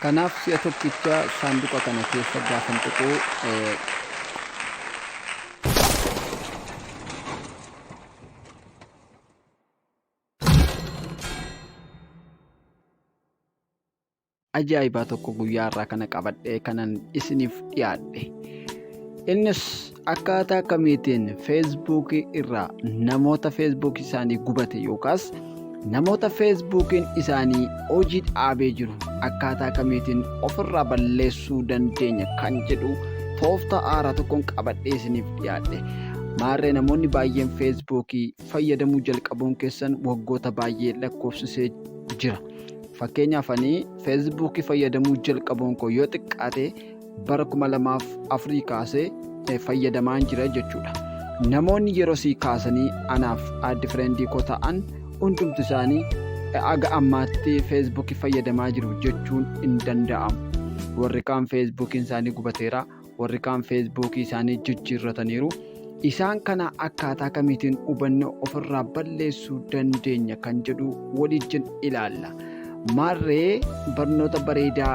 Kanaaf si'a tokkicha saanduqa kana keessa gaafan tuqu. ajaa'ibaa tokko guyyaa irraa kana qabadhee kanan isiniif dhiyaadhe. Innis Akkaataa akkamiitiin feesbuukii irraa namoota feesbuukii isaanii gubate yookaas namoota feesbuukiin isaanii hojii dhaabee jiru akkaataa akkamiitiin ofirraa balleessuu dandeenya kan jedhu tooftaa haaraa tokkoon qabadhee isiniif dhiyaadhe. Maarree namoonni baay'een feesbuukii fayyadamuu jalqabuun keessan waggoota baay'ee lakkoofsisee jira. Fakkeenyaaf ani feesbuukii fayyadamuu jalqabuun koo yoo xiqqaate bara 2004 kaasee eh, fayyadamaan jira jechuudha. Namoonni yeroo sii kaasanii anaaf addi fireendii koo ta'an hundumti isaanii eh, aga ammaatti feesbuukii fayyadamaa jiru jechuun hin danda'amu. Warri kaan feesbuukiin isaanii gubateera, warri kaan feesbuukii isaanii jijjiirrataniiru. Isaan kana akkaataa kamiitiin hubanne ofirraa balleessuu dandeenya kan jedhu waliijjin ilaalla. Maarree barnoota bareedaa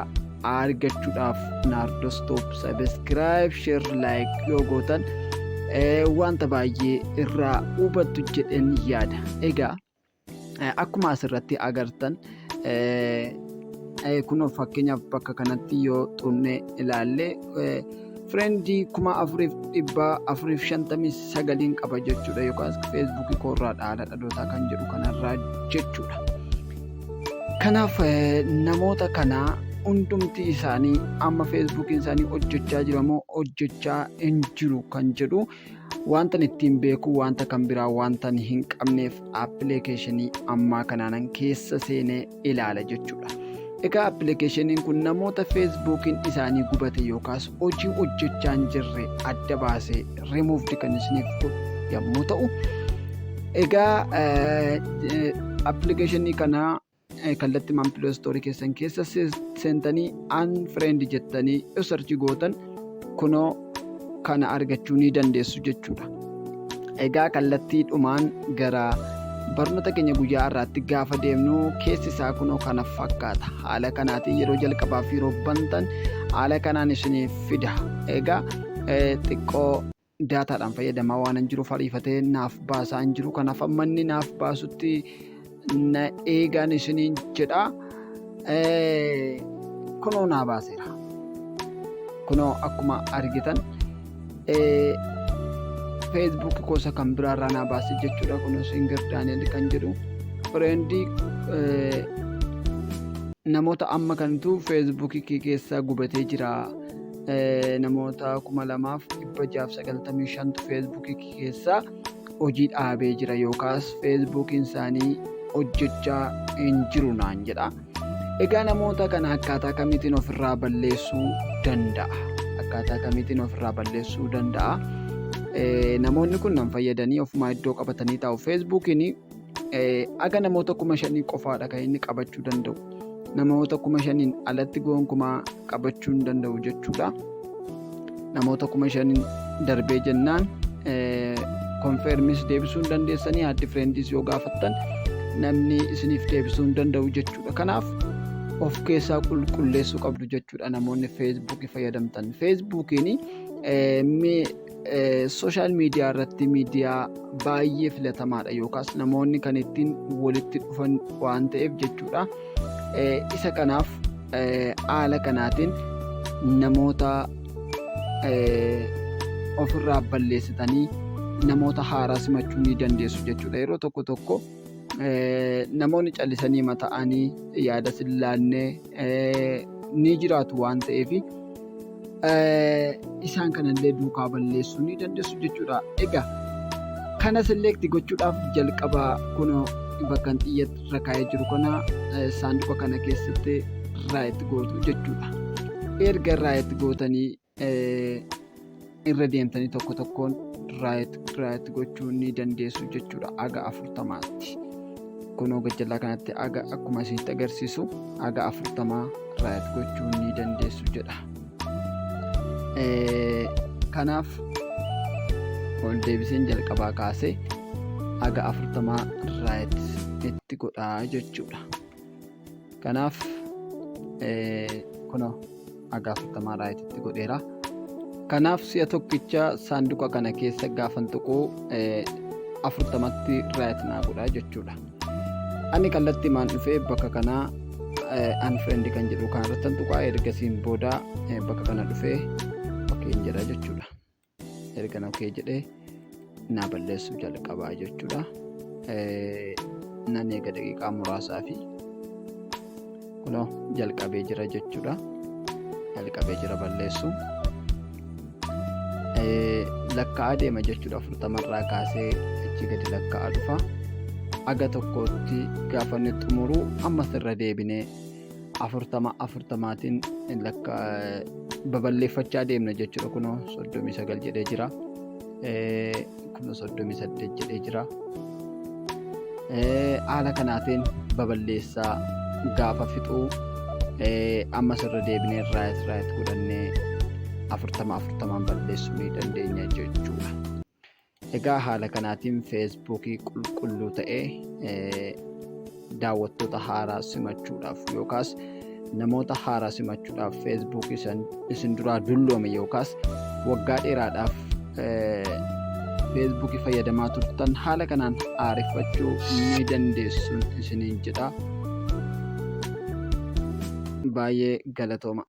argachuudhaaf Naardos Top Subscribe, Share, Like yoo gootan wanta baay'ee irraa hubattu jedheen yaada. Egaa Akkuma asirratti agartan kun fakkeenyaaf bakka kanatti yoo xunne ilaalle firendii kuma afuriif dhibba afuriif shantamii sagaliin qaba jechuudha yookaas feesbuukii koorraa dhaala dhalootaa kan jedhu kanarraa jechuudha. Kanaaf namoota kana hundumti isaanii amma feesbuukiin isaanii hojjechaa jiramoo hojjechaa hin jiru kan jedhu Wantan ittiin beeku wanta kan biraa wantan hin qabneef appilikeeshinii ammaa kanaanan keessa seenee ilaala jechuudha. Egaa appilikeeshiniin kun namoota feesbuukiin isaanii gubate yookaas hojii hojjechaa hin jirre adda baasee rimuuvdi kan isiniif godhu yommuu ta'u, egaa appilikeeshinii kana kallattimaan Play Store keessan keessa seentanii Unfriend jettanii yoo sarchi gootan kunoo kana argachuu ni dandeessu jechuudha. Egaa kallattii dhumaan gara barnoota keenya guyyaa irraatti gaafa deemnu keessi isaa kunoo kana fakkaata. Haala kanaatiin yeroo jalqabaaf yeroo bantan haala kanaan isiniif fida. Egaa xiqqoo daataadhaan fayyadamaa waan hin jiruuf ariifatee naaf baasaa hin jiru kanaaf amma inni naaf baasutti na eegaan isiniin jedha kunoo naa baaseera kunoo akkuma argitan feesbuuk gosa kan biraarraa naa baase jechuudha kunis hingir daani'el kan jedhu fireendii namoota amma kantu feesbuukii keessaa gubatee jira. namoota 2695tu feesbuukii keessaa hojii dhaabee jira yookaas feesbuukiin isaanii hojjechaa hin jiru naan jedha. Egaa namoota kana akkaataa kamiitiin ofirraa balleessuu danda'a? Akkaataa kamiitiin ofirraa balleessuu danda'a? Namoonni kun nan fayyadanii ofumaa iddoo qabatanii taa'u. Feesbuukiin Aga namoota kuma shanii qofaadha kan inni qabachuu danda'u. Namoota kuma shaniin alatti gonkumaa qabachuu hin danda'u jechuudha. Namoota kuma shaniin darbee jennaan konfeermis deebisuu hin dandeessanii haaddi fireendiis yoo gaafattan namni isiniif deebisuu hin danda'u jechuudha. Kanaaf of keessaa qulqulleessuu qabdu jechuudha namoonni feesbuukii fayyadamtan. Feesbuukiin Sooshaal miidiyaa irratti miidiyaa baay'ee filatamaadha yookaas namoonni kan ittiin walitti dhufan waan ta'eef jechuudha. Isa kanaaf haala kanaatiin namoota ofirraa balleessitanii namoota haaraa simachuu ni dandeessu jechuudha. Yeroo tokko tokko. namoonni callisanii mata'anii yaada sin laanne ni jiraatu waan ta'eef isaan kanallee duukaa balleessuu ni dandeessu jechuudha. Egaa kana selekti gochuudhaaf jalqaba kunoo bakkan xiyyatti irra kaa'ee jiru kana saanduqa kana keessatti raayit gootu jechuudha. Erga raayit gootanii irra deemtanii tokko tokkoon raayit gochuu ni dandeessu jechuudha aga afurtamaatti kunoo gajjallaa kanatti aga akkuma isinitti agarsiisu aga afurtamaa raayit gochuu ni dandeessu jedha kanaaf ol deebiseen jalqabaa kaasee aga afurtamaa raayit itti godhaa jechuudha. Kanaaf kunoo haga afurtamaa raayititti godheera. Kanaaf si'a tokkicha saanduqa kana keessa gaafan tuquu afurtamatti raayit naa godha jechuudha. Ani kallattii maan dhufee bakka kanaa unfriend kan jedhu kanarratti tuqaa ergasiin booda bakka kana dhufee ok jedha jechuudha. ergan okee jedhee naa balleessuu jalqabaa jechuudha nan eega daqiiqaa muraasaa fi kunoo jalqabee jira jechuudha jalqabee jira balleessuu lakka'aa deema jechuudha afurtamarraa kaasee achi gadi lakka'aa dhufa aga tokkootti gaafanni xumuruu ammas irra deebinee afurtama afurtamaatiin lakka babal'eeffachaa deemna jechuudha kunoo soddomii sagal jedhee jira kunoo soddomii saddeet jedhee jira haala kanaatiin babal'eessaa gaafa fixuu ammas irra deebinee raayit raayit godhannee afurtama afurtamaan balleessuu ni dandeenya jechuudha. Egaa haala kanaatiin feesbuukii qulqulluu ta'e daawwattoota haaraa simachuudhaaf yookaas namoota haaraa simachuudhaaf feesbuukii isin duraa dulloome yookaas waggaa dheeraadhaaf feesbuukii fayyadamaa turtan haala kanaan aareffachuu ni dandeessuun isiniin jedha. Baay'ee galatooma.